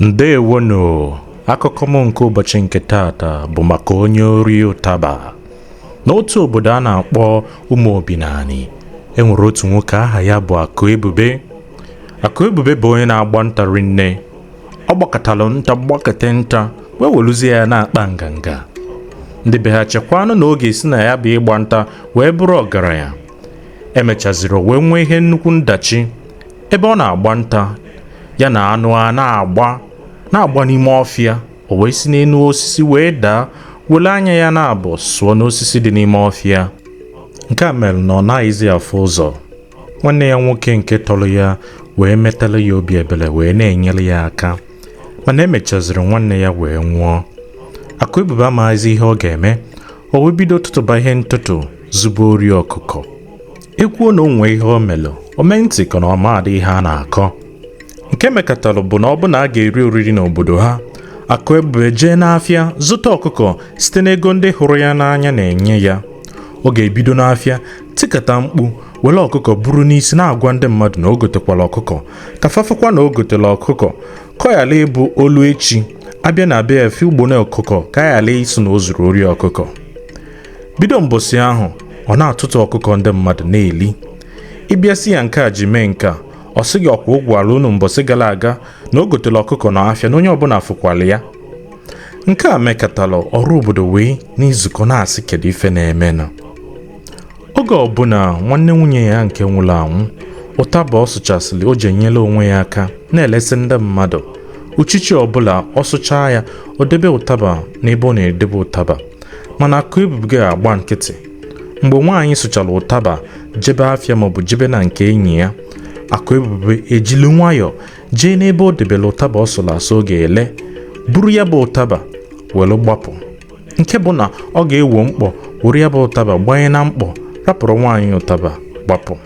ndewonu akụkọ m nke ụbọchị nke taata bụ maka onye ori ụtaba n'otu obodo a na-akpọ ụmụ obinani e nwere otu nwoke aha ya bụ akụ ebube akụ ebube bụ onye na-agba nta rinne ọ gbakatara nta gbakata nta wee weluzie ya na-akpa nganga ndị be ha chekwanụ na ọ ga-esi na ya bụ ịgba nta wee bụrụ ọgaranya emechaziri o wee nwee ihe nnukwu ndachi ebe ọ na-agba nta ya na anụ a na-agba na-agba n'ime ọfịa o wee si n'elu osisi wee daa wele anya ya naabọ sụọ n'osisi dị n'ime ọfịa nke a mere na ọ naghịzi afụ ụzọ nwanne ya nwoke nke tọrọ ya wee metara ya obi ebere wee na-enyere ya aka mana emechaziri nwanne ya wee nwụọ akụ ebube amaghịzi ihe ọ ga-eme o wee bido tụtụba ihe ntụtụ zuba ori ọkụkọ e kwuo na o nwee ihe o melụ o mee ntị ka na ọ maadị ihe a na-akọ nke mekatara bụ na ọ bụ na a ga-eri oriri n'obodo ha akụ ebube jee n'afịa zụta ọkụkọ site n'ego ndị hụrụ ya n'anya na-enye ya ọ ga-ebido n'afịa tikata mkpu were ọkụkọ buru n'isi na-agwa ndị mmadụ na o gotekwala ọkụkọ ka fa fụkwa na o gotela ọkụkọ ka ọ yala ịbụ o lu echi a bịa na be ya fụ ugbene ọkụkọ ka a yala ịsị na o zuru ori ọkụkọ bido mbọsị ahụ ọ na-atụtụ ọkụkọ ndị mmadụ na-eli ị bịa sị ya nke a ji mee nke a ọ sị gị ọ kwa ọ gwala unu mbọsị gara aga na o gotela ọkụkọ na afịa na onye ọbụla fụkwala ya nke a mekatala ọra obodo wee na-ezukọ na-asị kedu ife na-emenụ oge ọbụla nwanne nwunye ya nke nwụrụ anwụ ụtaba ọ sụchasịrị o ji enyela onwe ya aka na-elesi ndị mmadụ uchichi ọbụla ọ sụchaa ya o debe ụtaba n'ebe ọ na-edebe ụtaba mana akụ ebube ga-agba nkịtị mgbe nwaanyị sụchara ụtaba jebe afịa maọbụ jebe na nke enyi ya akụ ebube ejili nwayọọ jee n'ebe o debere ụtaba ọ sụrụ asụ ọ ga-ele buru ya bụ ụtaba were gbapụ nke bụ na ọ ga-ewo mkpọ were ya bụ ụtaba gbanye na mkpọ rapụrụ nwaanyị ụtaba gbapụ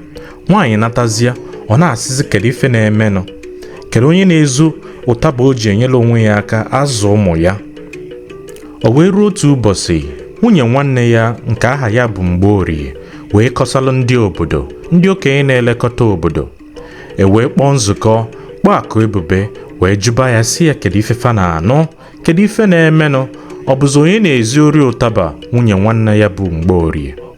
nwaanyị natazịa ọ na-asịzi kedu ife na-emenụ kedu onye na-ezu ụtaba o ji enyere onwe ya aka azụ ụmụ ya o wee ruo otu ụbọchị nwunye nwanne ya nke aha ya bụ mgborie wee kọsalụ ndị obodo ndị okenye na-elekọta obodo e wee kpọọ nzukọ kpọọ akụ ebube wee jụba ya sị ya kedu ife fa na-anụ kedu ife na-emenụ ọ bụzi onye na-ezi ori ụtaba nwunye nwanne ya bụ mgborie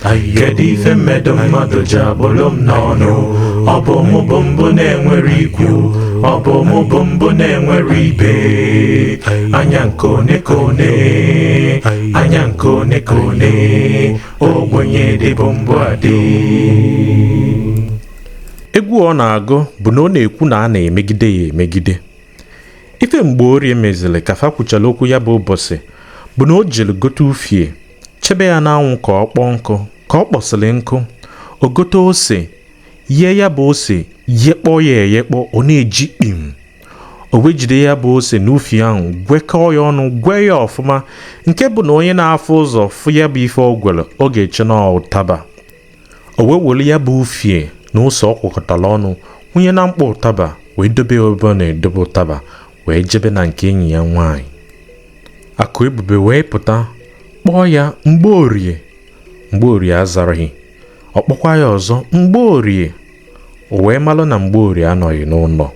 kedu ife m medo mmadụ ji akpụlụ m n'ọnụ ọ bụ mụ bụ mbụ na-enwere ikwu ọ bụ mụ bụ mbụ na-enwere ibe anya nke one ka one anya nke one ka one ogbenye dịbu mbụ adị egwu ọ na-agụ bụ na ọ na-ekwu na a na-emegide ya emegide ife mgborie meziri ka fa kwuchara okwu ya bụ ụbọsị bụ na o jiri gote ufie chebe ya n'anwụ ka ọ kpọọ nkụ ka ọ kpọsịrị nkụ o gote ose yee ya bụ ose yekpọ ya eyekpọ ọ na-eji kpim o wee jide ya bụ ose na ufie ahụ gwekọọ ya ọnụ gwee ya ọfụma nke bụ na onye na-afụ ụzọ fụ ya bụ ife o gwere ọ ga-eche na ụtaba o wee were ya bụ ufie na ose ọ gwakọtara ọnụ wụnye na mkpọ ụtaba wee dobe ya ebe ọ na-edobe ụtaba wee jebe na nke enyi ya nwaanyị akụebube wee pụta kpọọ ya mgborie mgborie azaraghị ọ kpọkwa ya ọzọ mgborie o wee malụ na mgborie anọghị n'ụnọ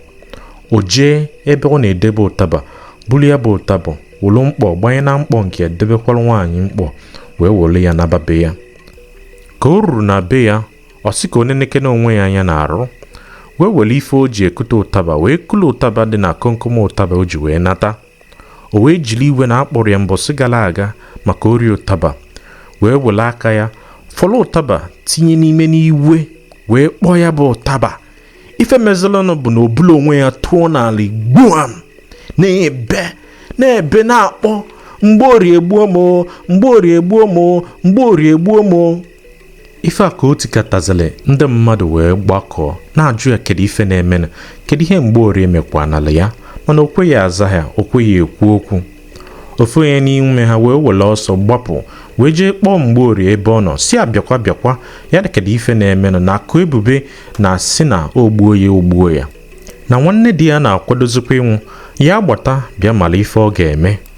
o jee ebe ọ na-edebe ụtaba buru ya bụ ụtaba wolu mkpọ gbanye na mkpọ nke ya debekwara nwaanyị mkpọ wee wolu ya naba be ya ka o ruru na be ya ọ sị ka o nenekene onwe ya anya n'arụ wee were ife o ji ekute ụtaba wee kulu ụtaba dị na komkom ụtaba o ji wee nata o wee jiri iwe na a kpọrọ ya mbọsị gara aga maka ori ụtaba wee were aka ya fọrọ ụtaba tinye n'imi n'iwe wee kpọọ ya bụ ụtaba ife mezilanụ bụ na o bula onwe ya tụọ n'ala gbuam na-ebe na-ebe na-akpọ mgborie egbuo m mgborie egbuo m mgborie egbuo m ife a ka o tikatazili ndị mmadụ wee gbakọọ na-ajụ ya kedu ife na-emenụ kedu ihe mgborie mekwanala ya mana o kweghị aza ha o kweghị ekwu okwu ofu onye n'ime ha wee were ọsọ gbapụ wee jee kpọọ mgborie ebe ọ nọ sị ya bịakwa bịakwa ya na kedu ife na-emenụ na akụebube na-asị na o gbuo ya o gbuo ya na nwanne di ya na-akwadozikwa ịnwụ ya gbata bịa mara ife ọ ga-eme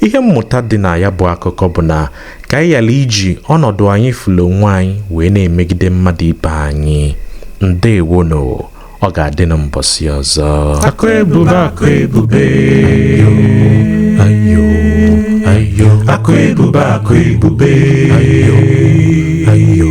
ihe mmụta dị na ya bụ akụkọ bụ na ka anyị ghara iji ọnọdụ anyị fụlụ onwe anyị wee na-emegide mmadụ ibe anyị ndeewonụ ọ ga-adị na mbọsị ọzọ akụebube akụebube ayo ayo akụebube akụebube ayo ayo